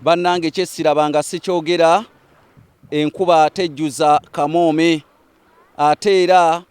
Banange kyesirabanga sikyogera enkuba tejjuza kamoome ate era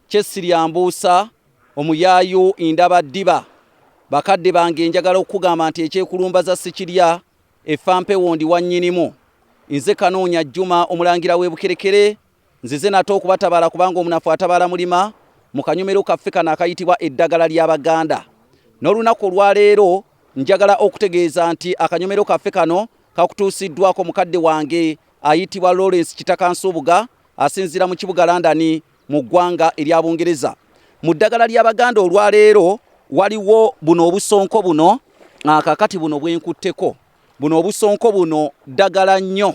kyesiryambuusa omuyaayu indaba ddiba bakadde bange njagala okukugamba nti ekyekulumbaza sikirya effa mpewo ndi wannyinimu nze kanoonya jjuma omulangira w'e bukerekere Nzize nate okubatabaala kubanga omunafu atabaala mulima mu kanyomero kaffe kano akayitibwa eddagala ly'Abaganda. N'olunaku olwaleero njagala okutegeeza nti akanyomero kaffe kano kakutuusiddwako mukadde wange ayitibwa Lawrence Kitaka Nsubuga asinziira mu kibuga London mu ggwanga erya Bungereza. Mu ddagala ly'Abaganda olwaleero waliwo buno obusonko buno kakati buno bwenkutteko buno obusonko buno ddagala nnyo.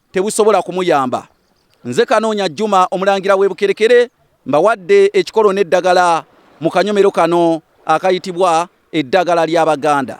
tebusobola kumuyamba nze kanoonya juma omulangira w'ebukerekere mbawadde ekikolo n'eddagala mu kanyomero kano akayitibwa eddagala ly'abaganda